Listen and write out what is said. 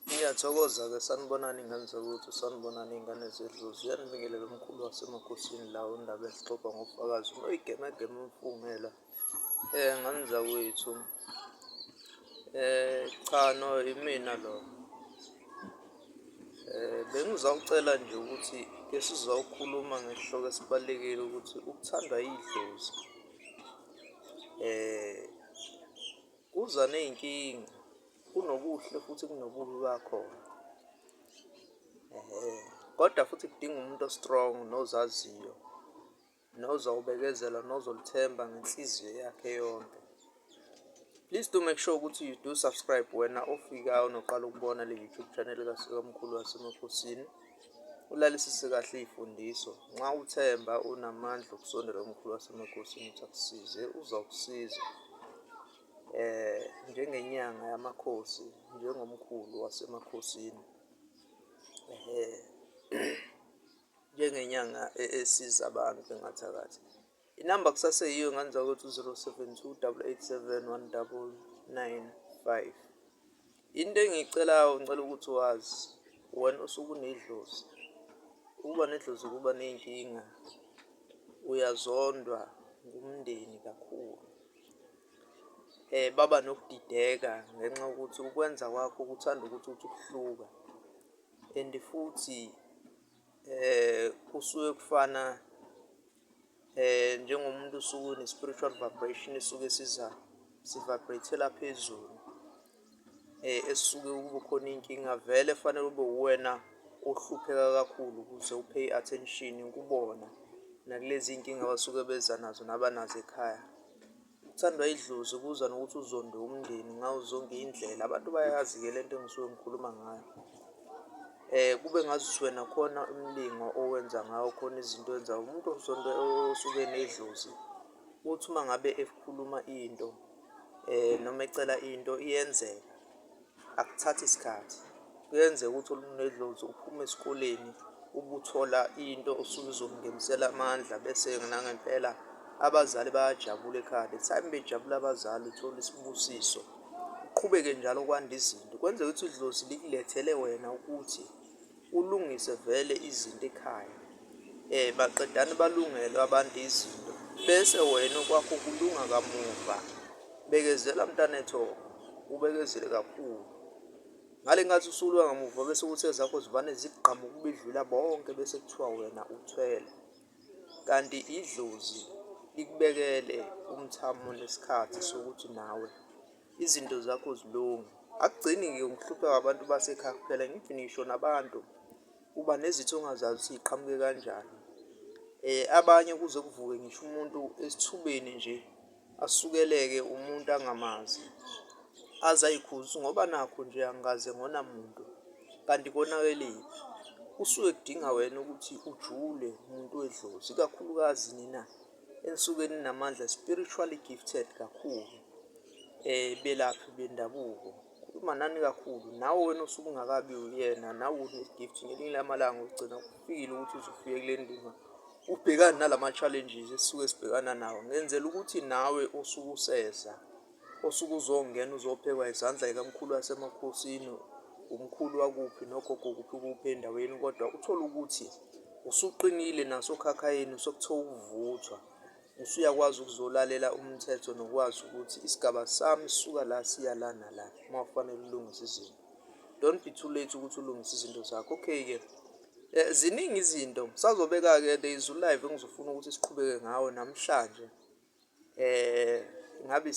Ngiyathokoza-ke sanibonani ingane zakwethu sanibonani iy'ngane zedlu ziyanibingelela umkhulu wasemakhosini la undaba ezixoxa ngofakazi unoyigemegeme umfungela um eh, ngane zakwethu um eh, cha no imina lo um eh, bengizawucela nje ukuthi ke sizawukhuluma ngesihloko esibalulekile ukuthi ukuthandwa yidlozi um Kuza ney'nkinga, kunobuhle futhi kunobubi bakhona. Kodwa futhi kudinga umuntu o-strong nozaziyo, nozawubekezela, nozolithemba ngenhliziyo yakhe yonke. Please do make sure ukuthi you do subscribe wena ofikayo noqala ukubona le-YouTube channel kaMkhulu waseMakhosini. Ulalisise kahle izifundiso. Nxa uthemba unamandla okusondela umkhulu wasemakosini ukuthi akusize, uzawukusiza eh njengenyanga yamakhosi njengomkhulu wasemakhosini ehe njengenyanga e-, esiza abantu bengathakathi. Inamba kusaseyiyo ngane zakwethu 072 887 Into engiyicelayo ngicela ukuthi wazi wena usuke unedlozi. Ukuba nedlozi kuba ney'nkinga, uyazondwa ngumndeni kakhulu. Um baba nokudideka ngenxa yokuthi ukwenza kwakho kuthanda ukuthi uthi ukuhluka and futhi um kusuke kufana um njengomuntu usuke une-spiritual vibration esuke siza si-vibrate-ela phezulu um esuke kube khona iy'nkinga vele fanele ube uwena ohlupheka kakhulu ukuze upay i-attention kubona nakulezi y'nkinga abasuke beza nazo nabanazo ekhaya. Uthandwa idlozi ubuza nokuthi uzonde umndeni ngawo zonke indlela abantu bayazi-ke le nto engisuke ngikhuluma ngayo um kube ngazuthi wena khona umlingo owenza ngawo khona izinto owenzayo umuntu ozonda osuke enedlozi uthi uma ngabe ekhuluma into um noma ecela into iyenzeka. Akuthathi isikhathi kuyenzeka ukuthi olunye nedlozi uphume esikoleni ubuthola into osuke uzomngenisela amandla bese nangempela abazali bayajabula ekhaya the time bejabula abazali uthola isibusiso uqhubeke njalo kwanda izinto kwenzeka ukuthi idlozi likulethele wena ukuthi Ulungise vele izinto ekhaya um baqedane balungelwe abantu izinto bese wena okwakho kulunga kamuva. Bekezela mntanethu ubekezele kakhulu. Ngale nkathi usulwa ngamuva bese kuthi ezakho zivane zigqama ukubidlula bonke bese kuthiwa wena uthwele. Kanti idlozi likubekele umthamo nesikhathi sokuthi nawe. izinto zakho zilunge akugcini ke ngihlupheka abantu basekhaya kuphela ngithi ngisho nabantu uba nezitho ongazazi ukuthi iqhamuke kanjani eh abanye kuze kuvuke ngisho umuntu esithubeni nje asukeleke umuntu angamazi azayikhuza ngoba nakho nje angikaze ngona muntu kanti konakelile kusuke kudinga wena ukuthi ujule umuntu wedlozi ikakhulukazi nina enisuke ninamandla spiritually gifted kakhulu eh belaphi bendabuko khuluma nani kakhulu nawe wena osuke ungakabi uyena nawe une-gift ngelinye lamalanga ugcina kufikile ukuthi uzofike kule ndima ubhekane nalama-challenges esisuke sibhekana nawo ngenzela ukuthi nawe osuke useza Osuke uzongena uzophekwa izandla ikamkhulu wasemakhosini, umkhulu wakuphi nogogo kuphi kuphi endaweni kodwa uthole ukuthi usuqinile nasokhakhayini sokuthiwa ukuvuthwa. Usuyakwazi ukuzolalela umthetho nokwazi ukuthi isigaba sami sisuka la siya la nala uma kufanele ulungise izinto. Don't be too late ukuthi ulungise izinto zakho. Okay-ke eh, ziningi izinto sazobeka-ke the izulive engizofuna ukuthi siqhubeke ngawo namhlanje um ngabe